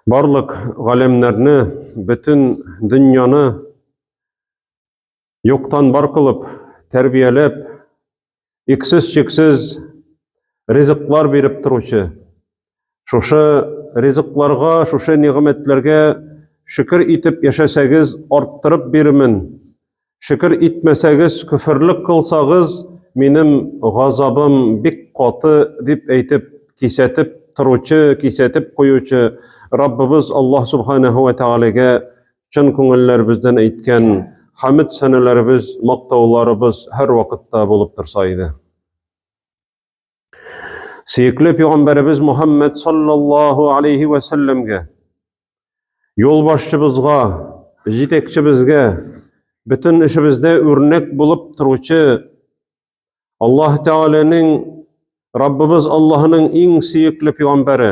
Барлык галәмнәрне, бөтен дөньяны юктан бар кылып, тәрбияләп, иксез-чиксез ризыклар биреп торучы, шушы ризыкларга, шушы нигъмәтләргә шөкер итеп яшәсәгез, арттырып бирмен, Шөкер итмәсәгез, көферлек кылсагыз, минем газабым бик каты, дип әйтеп, кисәтеп торучы, кисәтеп куючы Раббыбыз Аллаһ Субханаһу ва Тәгаләгә чын күңелләребездән әйткән хәмд сәнәләребез, мактауларыбыз һәрвакытта булып торса иде. Сөекле пәйгамбәребез Мухаммед саллаллаһу алейхи ва сәлләмгә юлбашчыбызга, җитәкчебезгә бөтен эшебездә үрнәк булып торучы Аллаһ Тәгаләнең Раббыбыз Аллаһының иң сөекле пәйгамбәре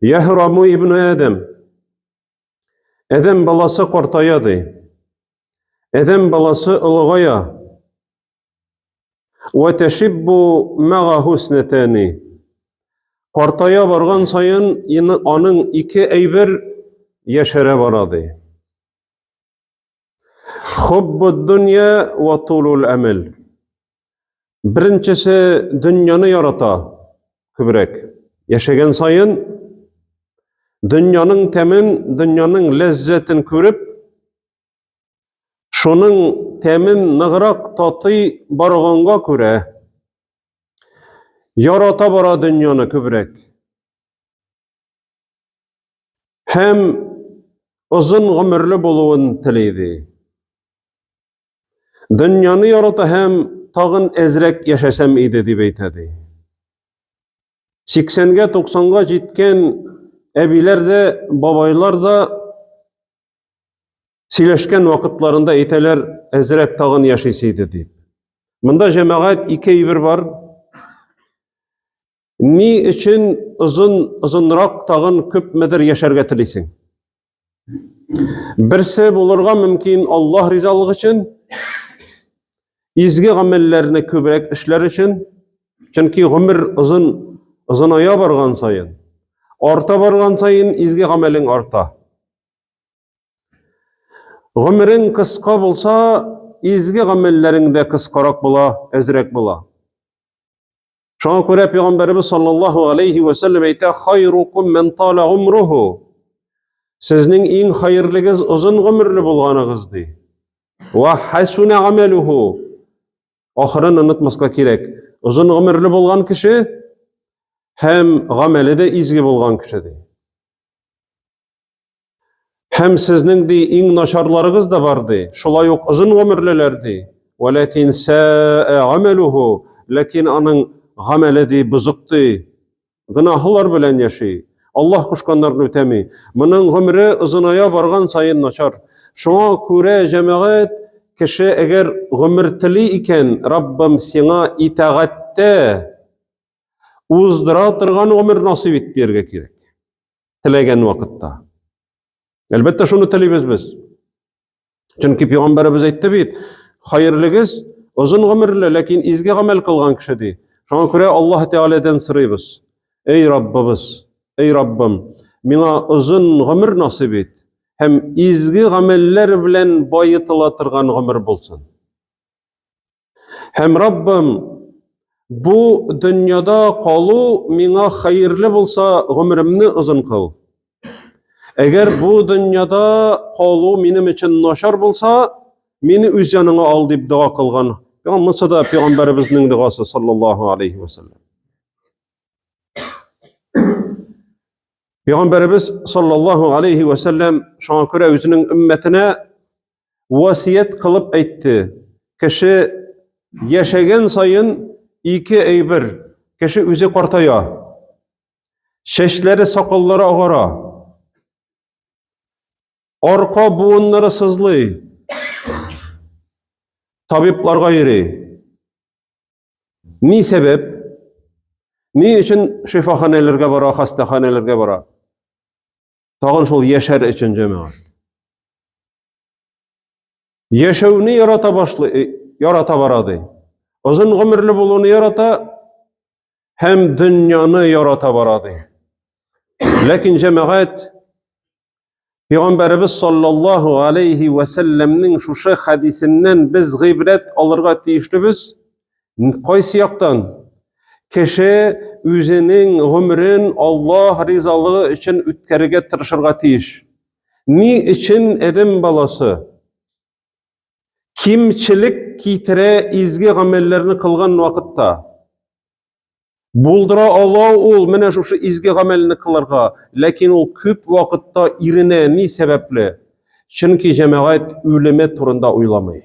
Яһраму ибн Адәм. Адәм баласы картая ди. Адәм баласы олыгая. Ва ташиббу мага хуснатани. Картая барган саен аның ике әйбер яшәрә бара ди. Хуббуддунья ва тулул әмел. Беренчесе дөньяны ярата күбрәк. Яшәгән сайын дөньяның тәмен, дөньяның ләззәтен күреп, шуның тәмен ныграк татый барганга күрә, ярата бара дөньяны күбрәк. Һәм озын гомерле булуын телейби. Дөньяны ярата һәм тагын әзрәк яшәсәм иде дип әйтә ди. 80-гә 90-га җиткән әбиләр дә, бабайлар да сөйләшкән вакытларында әйтәләр, әзрәк тагын яшисе иде дип. Монда җәмәгать ике әйбер бар. Ни өчен озын озынрак тагын күпмедер яшәргә телисең? Берсе булырга мөмкин Аллаһ ризалыгы өчен, изге гамәлләрне күбрәк эшләр өчен, чөнки гомер озын озыная барган саен, арта барган саен изге гамәлең арта. Гомерең кыска булса, изге гамәлләрең дә кыскарак була, әзрәк була. Шуңа күрә пәйгамбәрбез саллаллаһу алейхи ва сәлләм әйтә: "Хайрукум мен тала гумруху". Сезнең иң хәерлегез озын гомерле булганыгыз ди. Ва хасуна амалуху. Ахырын онытмаска кирәк. Озын гомерле булган кеше һәм гамәле дә изге булган кеше ди. Һәм сезнең ди иң начарларыгыз да бар ди. Шулай ук озын гомерлеләр ди. Вәләкин сәә амәлүһу, ләкин аның гамәле ди бозык ди. Гөнаһлар белән яши. Аллаһ кушканнарны үтәми. Моның гомере озыная барган саен начар. Шуңа күрә җәмәгать кеше әгәр гомер тели икән, Раббым, сиңа итагатьтә уздыра торган гомер насыйп ит дияргә кирәк. теләгән вакытта. Әлбәттә, шуны телибез без. Чөнки пәйгамбәребез әйтте бит, хәерлегез озын гомерле, ләкин изге гамәл кылган кеше ди. Шуңа күрә Аллаһ Тәгаләдән сорыйбыз. Эй Раббыбыз, эй Раббым, миңа озын гомер насыйп ит һәм изге гамәлләр белән баетыла торган гомер булсын. Һәм Раббым, бу дөньяда калу миңа хәерле булса, гомеремне озын кыл. Әгәр бу дөньяда калу минем өчен начар булса, мине үз яныңа ал дип дога кылган. Яңа монсы да пәйгамбәребезнең догасы саллаллаһу алейхи ва саллям. Пәйгамбәребез саллаллаһу алейхи ва саллям шуңа күрә үзенең өммәтенә васыять кылып әйтте. Кеше яшәгән саен ике әйбер, кеше үзе картая. Чәчләре, сакаллары агара. Арка буыннары сызлый. Табибларга йөри. Ни сәбәп? Ни өчен шифаханәләргә бара, хастаханәләргә бара? Тагын шул яшәр өчен җәмәгать. Яшәүне ярата башлый, э, ярата бара ди. Озын гомерле булуны ярата һәм дөньяны ярата бара ди. Ләкин җәмәгать Пәйгамбәребез саллаллаһу алейхи ва салламның шушы хадисеннән без гыйбрәт алырга тиешлебез. Кайсы яктан? Кеше үзенең гомерен Аллаһ ризалыгы өчен үткәрергә тырышырга тиеш. Ни өчен Эдем баласы кимчелек китерә изге гамәлләрне кылган вакытта? Булдыра ала ул менә шушы изге гамәлне кылырга, ләкин ул күп вакытта иренә ни сәбәпле? Чөнки җәмәгать үлеме турында уйламый.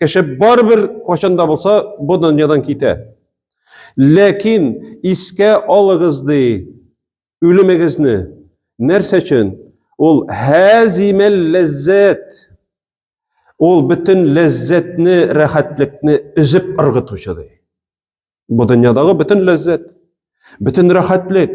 Кеше барыбер кайчан да булса бу дөньядан китә. Ләкин искә алыгыз ди үлемегезне. Нәрсә өчен? Ул хәзимәл ләззәт. Ул бөтен ләззәтне, рәхәтлекне өзеп ыргытучы ди. Бу дөньядагы бөтен ләззәт, бөтен рәхәтлек,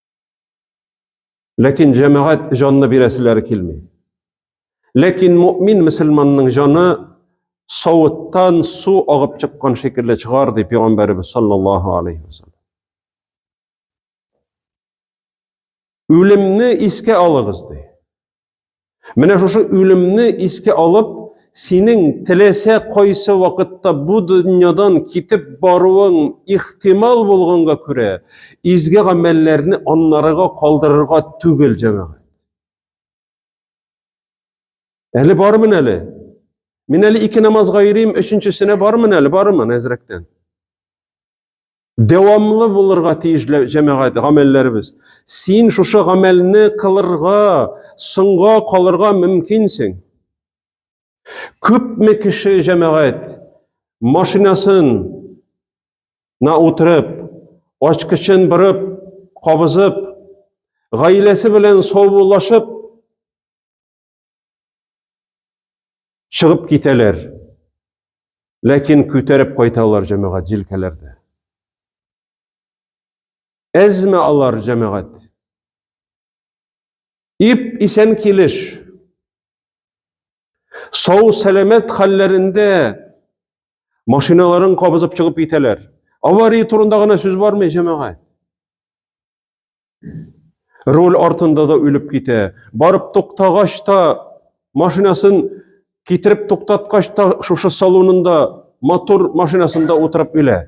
Ләкин җәмәгать җанны бирәселәре килми. Ләкин мөмин мөселманның җаны савыттан су агып чыккан шикелле чыгар ди пәйгамбәребез саллаллаһу алейхи ва саллям. Үлемне искә алыгыз ди. Менә шушы үлемне искә алып, синең теләсә кайсы вакытта бу дөньядан китеп баруың ихтимал булганга күрә, изге гамәлләрне аннарыга калдырырга түгел, җәмәгать. Әле бармын әле. Мин әле ике намазга йөрим, өченчесенә бармын әле, бармын әзрәктән. дәвамлы булырга тиеш җәмәгать гамәлләребез. Син шушы гамәлне кылырга, соңга калырга мөмкинсең. Күпме кеше җәмәгать машинасын на утырып, ачкычын бырып, кабызып, гаиләсе белән саубуллашып, Чыгып китәләр. Ләкин күтәреп кайталар җәмәгать җилкәләрдә. Әзме алар җәмәгать? Ип исән килеш. Сау сәламәт хәлләрендә машиналарын кабызып чыгып китәләр. Авария турында гына сүз бармый җәмәгать. Руль артында да үлеп китә. Барып туктагач та машинасын китереп туктаткач та шушы салонында мотор машинасында утырып үлә.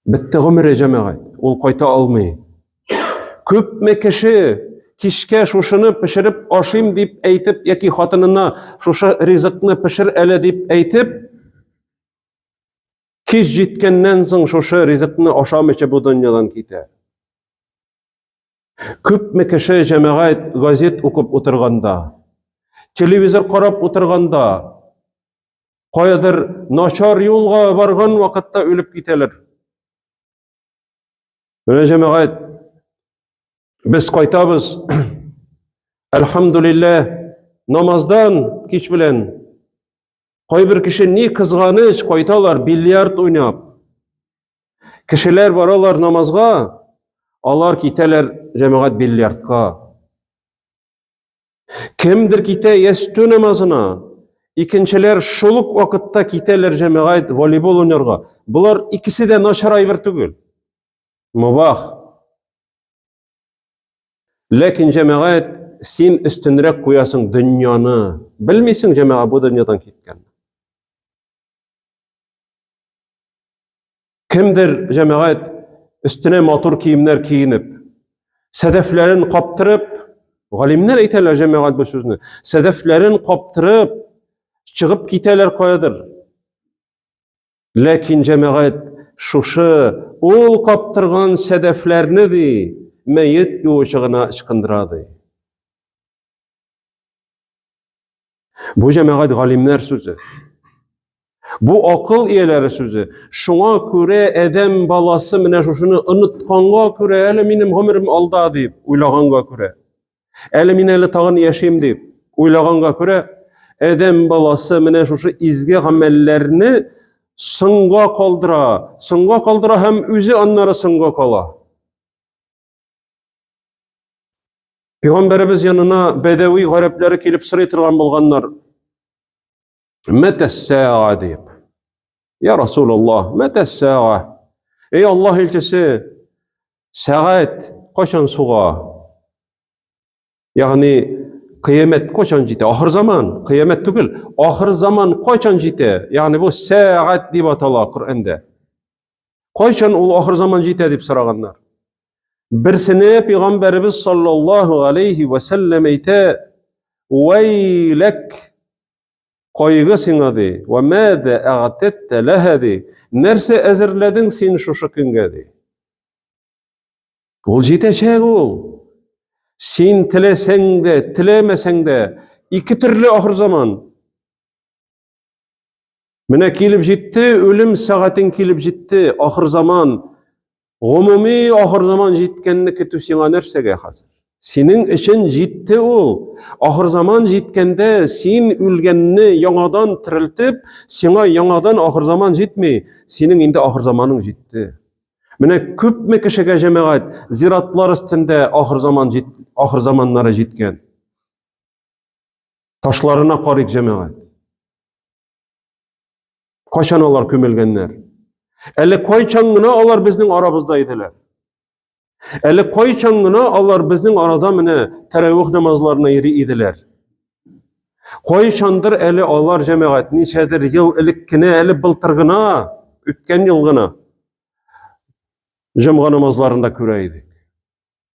Бетте гомере җәмәгать. Ул кайта алмый. Күпме кеше кичкә шушыны пешереп ашыйм дип әйтеп яки хатынына шушы ризыкны пешер әле дип әйтеп Кич җиткәннән соң шушы ризыкны ашамыйча бу дөньядан китә. Күпме кеше җәмәгать газет укып утырганда, телевизор карап утырганда, каядыр начар юлга барган вакытта үлеп китәләр. Менә җәмәгать без кайтабыз. Әлхәмдулилләһ, намаздан кич белән Кайбер кеше ни кызганыч кайталар бильярд уйнап. Кешеләр баралар намазга, алар китәләр җәмәгать бильярдка. Кемдер китә ястү намазына, икенчеләр шул ук вакытта китәләр җәмәгать волейбол уйнарга. Болар икесе дә начар әйбер түгел. Мубах. Ләкин җәмәгать син өстенрәк куясың дөньяны. Белмисең җәмәга бу дөньядан киткән. Кемдер җәмәгать өстенә матур киемнәр киенеп, сәдәфләрен каптырып, галимнәр әйтәләр җәмәгать бу сүзне. Сәдәфләрен каптырып чыгып китәләр каядыр. Ләкин җәмәгать шушы ул каптырган сәдәфләрне ди мәет юучы гына ычкындыра ди. Бу җәмәгать галимнәр сүзе. Бу акыл ияләре сүзе. Шуңа күрә адәм баласы менә шушыны онытканга күрә, әле минем гомерем алда дип уйлаганга күрә. Әле мин әле тагын яшим дип уйлаганга күрә, адәм баласы менә шушы изге гамәлләрне соңга калдыра, соңга калдыра һәм үзе аннары соңга кала. Пәйгамбәребез янына бәдәви гарәпләре килеп сорый торган булганнар. Мәтә сәга дип. Я Расулаллах, мәтә сәга. Эй Аллаһ илчесе, сәгать кайчан суга? Ягъни кыямәт кайчан җитә? Ахыр заман, кыямәт түгел. Ахыр заман кайчан җитә? Ягъни бу сәгать дип атала Коръәндә. Кайчан ул ахыр заман җитә дип сораганнар. Берсене пәйгамбәребез саллаллаһу алейхи ва саллям әйтә: "Уайлак кайгы сиңа ди, ва мада агтатта лаһа ди, нәрсә әзерләдең син шушы көнгә ди?" Ул җитәчәк ул. Син теләсәң дә, теләмәсәң дә, ике төрле ахыр заман. Менә килеп җитте, үлем сәгатең килеп җитте, ахыр заман, гомуми ахыр заман җиткәнне көтү сиңа нәрсәгә хәзер? Синең өчен җитте ул. Ахыр заман җиткәндә син үлгәнне яңадан терелтеп, сиңа яңадан ахыр заман җитми, синең инде ахыр заманың җитте. Менә күпме кешегә җәмәгать зиратлар өстендә ахыр заман җит, ахыр заманнары җиткән. Ташларына карыйк, җәмәгать. Кайчан алар күмелгәннәр? Әле кайчан гына алар безнең арабызда иделәр? Әле кайчан гына алар безнең арада менә тәрәвих намазларына йөри иделәр? Кайчандыр әле алар җәмәгать ничәдер ел элек кенә, әле былтыр гына, үткән ел гына җомга намазларында күрә идек.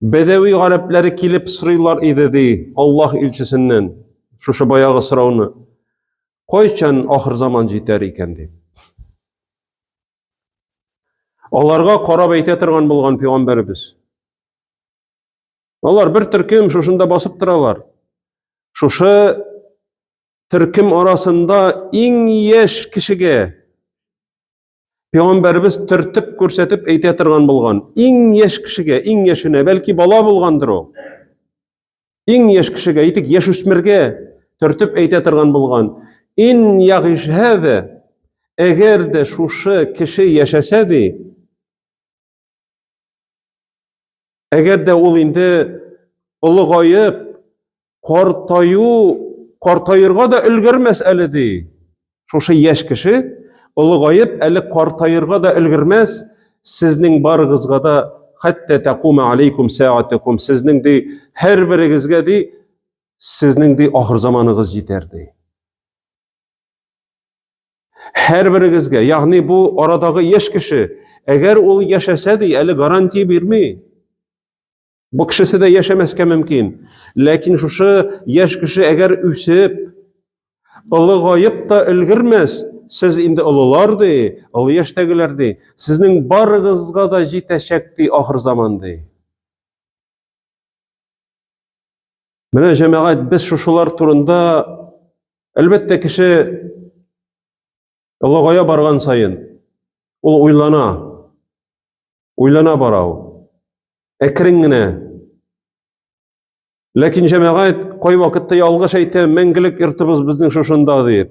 Бәдәви гарәпләре килеп сорыйлар иде ди Аллаһ илчесеннән шушы баягы сорауны. Кайчан ахыр заман җитәр икән дип. Аларга карап әйтә торган булган пәйгамбәребез. Алар бер төркем шушында басып торалар. Шушы төркем арасында иң яшь кешегә Пәйгамбәрбез төртеп күрсәтеп әйтә торган булган. Иң яшь кешегә, иң яшенә, бәлки бала булгандыр ул. Иң яшь кешегә, әйтик, яшь үсмергә төртеп әйтә торган булган. Ин ягишһәдә, әгәр дә шушы кеше яшәсә ди, Әгәр дә ул инде олыгаеп, картаю, картаерга да өлгермәс әле ди. Шушы яшь кеше олыгаеп, әле картаерга да өлгермәс, сезнең барыгызга да хәтта тәкума алейкум сәатәкум сезнең ди һәрберегезгә ди сезнең ди ахыр заманыгыз җитәр ди. Һәрберегезгә, ягъни бу арадагы яшь кеше, әгәр ул яшәсә ди, әле гарантия бирми. Бу кешесе дә яшәмәскә мөмкин. Ләкин шушы яшь кеше әгәр үсеп, олыгаеп та өлгермәс, сез инде олылар ди, олы яшьтәгеләр ди, сезнең барыгызга да җитәчәк ди ахыр заман ди. Менә җәмәгать без шушылар турында әлбәттә кеше олыгая барган саен ул уйлана, уйлана бара ул. Әкрен генә. Ләкин җәмәгать кай вакытта ялгыш әйтә, мәңгелек йортыбыз безнең шушында дип.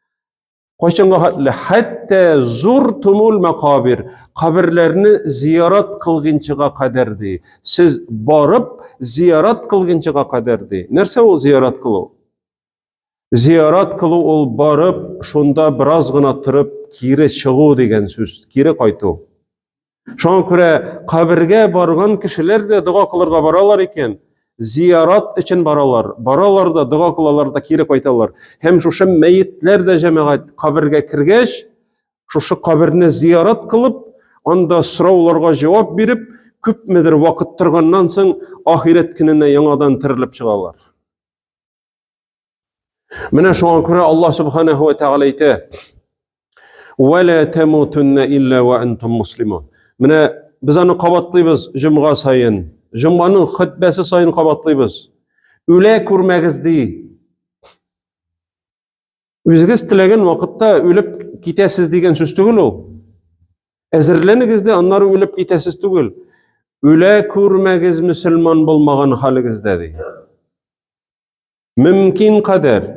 Кайчанга хәтле хәтта зур тумул мәкабир, каберләрне зиярат кылгынчыга кадәр ди. Сез барып зиярат кылгынчыга кадәр ди. Нәрсә ул зиярат кылу? Зиярат кылу ул барып, шунда бераз гына торып, кире чыгу дигән сүз, кире кайту. Шуңа күрә кабергә барган кешеләр дә дога кылырга баралар икән, зиярат өчен баралар. Баралар да дога кылалар да кире кайталар. Һәм шушы мәетләр дә җәмәгать кабергә кергәч, шушы каберне зиярат кылып, анда сорауларга җавап биреп, күпмедер вакыт торганнан соң ахирәт көненә яңадан терелеп чыгалар. Менә шуңа күрә Аллаһ Субханаһу ва Тәгалә әйтә: "Ва ла тамутунна илля ва антум муслимун." Менә без аны кабатлыйбыз җомга саен, җомганың хөтбәсе саен кабатлыйбыз. Үлә күрмәгез ди. Үзегез теләгән вакытта үлеп китәсез дигән сүз түгел ул. Әзерләнегез дә аннары үлеп китәсез түгел. Үлә күрмәгез мөселман булмаган халегездә ди. Мөмкин кадәр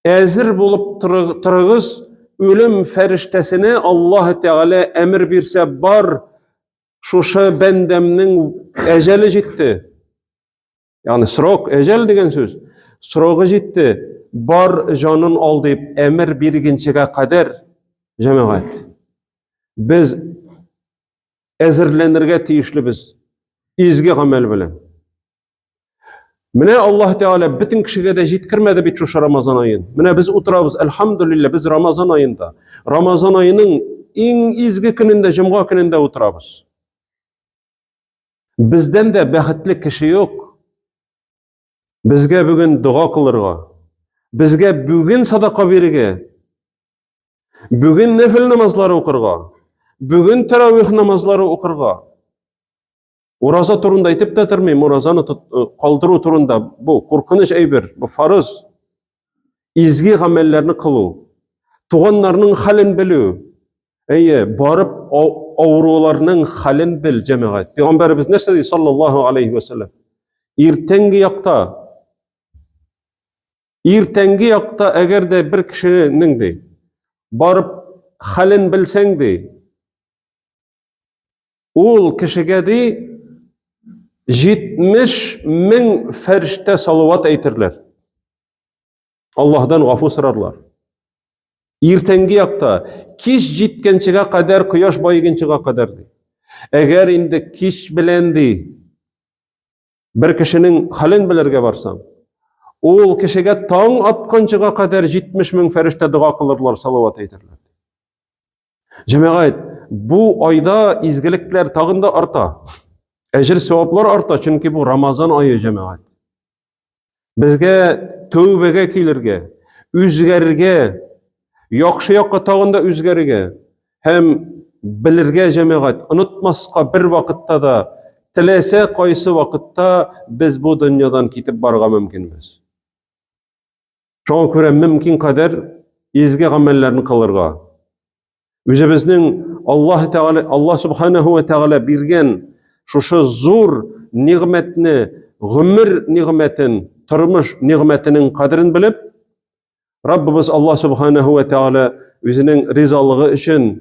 әзер булып торыгыз, үлем фәрештәсенә Аллаһ Тәгалә әмер бирсә бар, шушы бәндәмнең әҗәле җитте. Ягъни срок, әҗәл дигән сүз. Срогы җитте, бар җанын ал дип әмер биргенчегә кадәр җәмәгать. Без әзерләнергә тиешлебез изге гамәл белән. Менә Аллаһ Тәгалә бөтен кешегә дә җиткермәде бит шушы Рамазан аен. Менә без утырабыз, альхамдулилла, без Рамазан аенда. Рамазан аеның иң изге көнендә, җомга көнендә утырабыз. Бездән дә бәхетле кеше юк. Безгә бүген дога кылырга, безгә бүген садака бирергә, бүген нәфел намазлары укырга, бүген тәравих намазлары укырга. Ураза турында әйтеп тә тормыйм, уразаны э, калдыру турында бу куркыныч әйбер, бу фарыз. изге гамәлләрне кылу, туганнарның хәлен белү, әйе, барып авыруларның хәлен бел, җәмәгать. Пәйгамбәребез нәрсә ди, саллаллаһу алейхи ва саллям? Иртәнге якта, иртәнге якта, әгәр дә бер кешенең ди, барып хәлен белсәң ди, Ул кешегә ди 70 мең фәрештә салават әйтерләр. Аллаһдан гафу сорарлар. Иртәнге якта кич җиткәнчегә кадәр, кояш баегынчыга кадәр ди. Әгәр инде кич белән ди бер кешенең хәлен белергә барсаң, ул кешегә таң атканчыга кадәр 70 мең фәрештә дога кылырлар, салават әйтерләр. Җәмәгать, бу айда изгелекләр тагын да арта. Әҗер саваплар арта, чөнки бу Рамазан айы җәмәгать. Безгә тәүбәгә килергә, үзгәрергә, яхшы якка тагын да үзгәрергә һәм белергә җәмәгать, онытмаска бер вакытта да теләсә кайсы вакытта без бу дөньядан китеп барырга мөмкинбез. Шуңа күрә мөмкин кадәр изге гамәлләрне кылырга. Үзебезнең Аллаһ Тәгалә, Аллаһ Субханаһу ва Тәгалә биргән шушы зур нигъмәтне, гомер нигъмәтен, тормыш нигъмәтенең кадерен белеп, Раббыбыз Аллаһ Субханаһу ва Тәгалә үзенең ризалыгы өчен